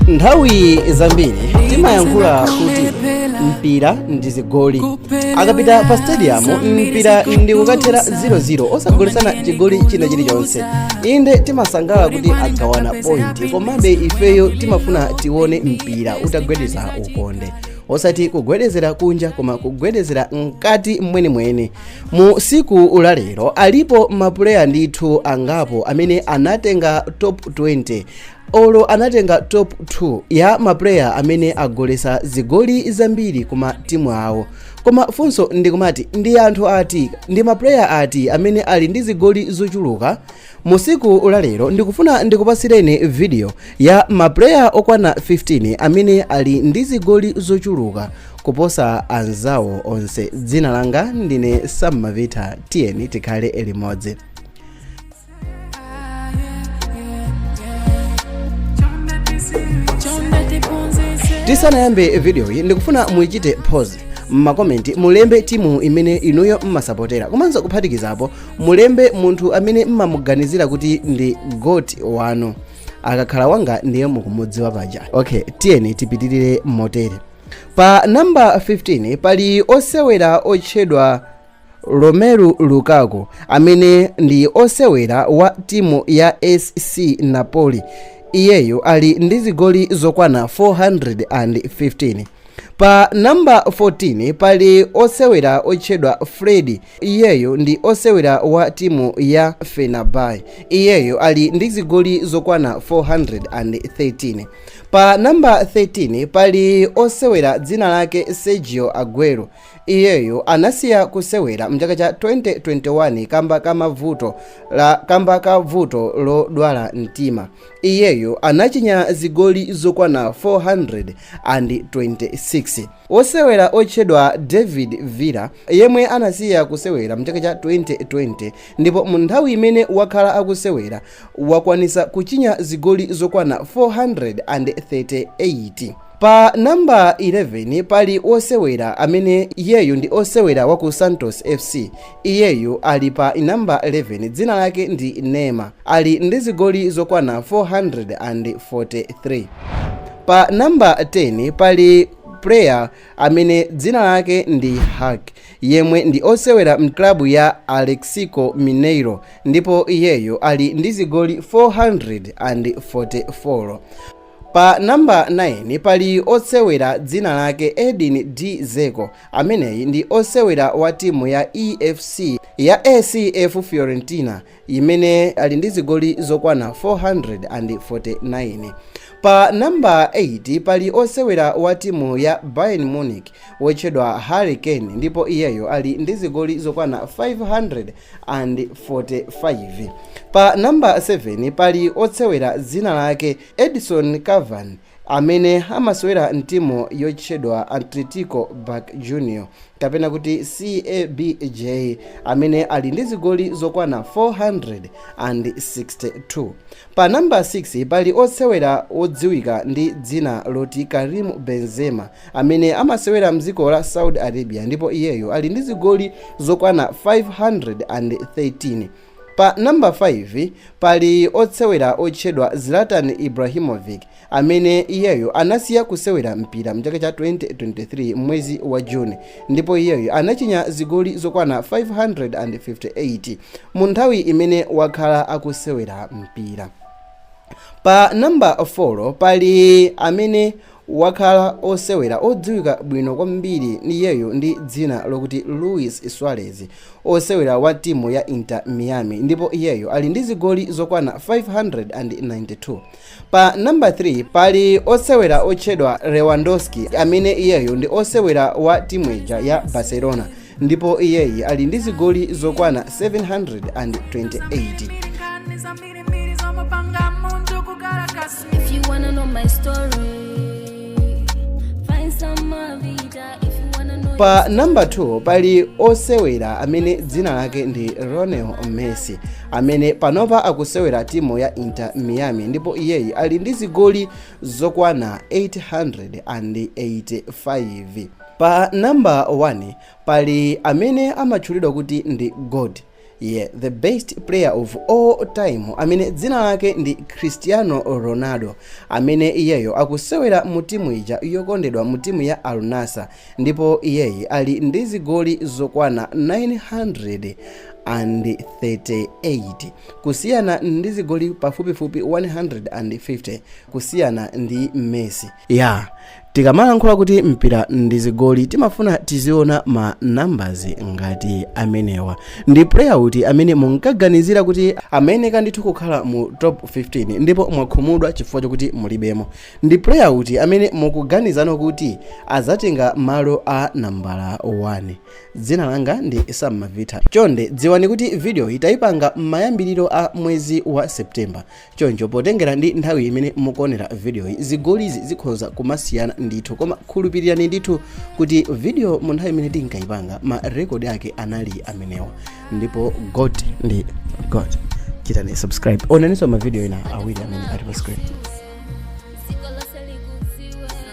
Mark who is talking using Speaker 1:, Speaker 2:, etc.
Speaker 1: nthawi zambiri timayankhula kuti mpira ndi zigoli akapita pa stadium mpira ndi kukathera 0-0 osagolesana chigoli china chilichonse inde timasangalala kuti agawana point komabe ifeyo timafuna tione mpira utagwedeza ukonde osati kugwedezera kunja koma kugwedezera mkati mwenimweni mu siku lalero alipo mapuleya ndithu angapo amene anatenga top 20 olo anatenga top 2 ya mapuleya amene agolesa zigoli zambiri kuma timu awo koma funso ndikumati ndi anthu ati ndi mapuleya ati amene ali ndi zigoli zochuluka musiku la lero ndikufuna ndikupasireni video ya mapuleya okwana 15 amene ali ndi zigoli zochuluka kuposa anzawo onse dzina langa ndine Sam Mavita tiyeni tikhale limodzi tisanayambe videoyi ndikufuna muichite pause mmakomenti mulembe timu imene inuyo mmasapotera komanso kuphatikizapo mulembe munthu amene mmamuganizira kuti ndi GOAT wanu akakhala wanga ndiye mukumudziwa paja okay tiyeni tipitirire motere pa namba 15 pali osewera otchedwa Romelu Lukaku amene ndi osewera wa timu ya SC Napoli iyeyo ali ndi zigoli zokwana 415 pa namba 14 pali osewera otchedwa Fred iyeyo ndi osewera wa timu ya Fenerbahce iyeyo ali ndi zigoli zokwana 413 pa namba 13 pali osewera dzina lake Sergio Aguero Iyeyo anasiya kusewera mchaka cha 2021 kamba ka mavuto la kamba ka vuto lodwala mtima. Iyeyo anachinya zigoli zokwana 426. Wosewera otchedwa David Villa yemwe anasiya kusewera mchaka cha 2020 ndipo mu nthawi imene wakhala akusewera wakwanisa kuchinya zigoli zokwana 438. Pa namba 11 pali wosewera amene iyeyo ndi osewera wa ku Santos FC. Iyeyo ali pa namba 11 dzina lake ndi Neymar. Ali ndi zigoli zokwana 443. Pa namba 10 pali player amene dzina lake ndi Hulk yemwe ndi osewera mklabu ya Atletico Mineiro ndipo iyeyo ali ndi zigoli 444. Pa number 9 pali osewera dzina lake Edin D Dzeko ameneyi ndi osewera wa timu ya EFC ya ACF Fiorentina imene ali ndi zigoli zokwana 449. Pa number 8 pali osewera wa timu ya Bayern Munich wotchedwa Harry Kane ndipo iyeyo ali ndi zigoli zokwana 500. 45 pa number 7 pali osewera dzina lake Edinson Cavani amene amasewera mtimu yotchedwa Atletico Boca Junior kapena kuti CABJ amene ali ndi zigoli zokwana 462 Pa nambala 6 pali osewera wodziwika ndi dzina loti Karim Benzema amene amasewera mdziko la Saudi Arabia ndipo iyeyo ali ndi zigoli zokwana 513. Pa nambala 5 pali osewera otchedwa Zlatan Ibrahimovic amene iyeyo anasiya kusewera mpira mchaka cha 2023 m'mwezi wa june ndipo iyeyo anachinya zigoli zokwana 558 mu nthawi imene wakhala akusewera mpira pa namba 4 pali amene wakhala osewera odziwika bwino kwambiri iyeyo ndi dzina lokuti luis suarez osewera wa timu ya inter miami ndipo iyeyo ali ndi zigoli zokwana 592 Pa namba 3 pali osewera otchedwa Lewandowski amene iyeyo ndi osewera wa timu ija ya Barcelona ndipo iyeyi ali ndi zigoli zokwana 728. pa namba 2 pali osewera amene dzina lake ndi lionel messi amene panopa akusewera timu ya inter miami ndipo iyeyi ali ndi zigoli zokwana 885 pa namba 1 pali amene amatchulidwa kuti ndi goat Yeah the best player of all time amene dzina lake ndi Cristiano Ronaldo amene iyeyo akusewera mu timu ija yokondedwa mu timu ya Al Nassr ndipo iyeyi ali ndi zigoli zokwana 938 kusiyana ndi zigoli pafupifupi 150 kusiyana ndi Messi. Yeah, tikamalankhula kuti mpira ndi zigoli timafuna tiziona ma numbers ngati amenewa ndi player uti amene munkaganizira kuti amayeneka ndithu kukhala mu top 15 ndipo mwakhumudwa chifukwa chokuti mulibemo ndi player uti amene mukuganiza kuti azatenga malo a nambala 1 dzina langa ndi sam mavita chonde dziwani kuti video iyi tayipanga m'mayambiriro a mwezi wa september Choncho potengera ndi nthawi imene mukuonera vidiyoyi, zigolizi zikhoza kumasiyana ndithu, koma khulupirirani ndithu kuti vidiyo mu nthawi imene tinkayipanga ma rekodi ake anali amenewa, ndipo God ndi God. Chitani subscribe, onaninso mavidiyo ena awiri amene ali pa screen.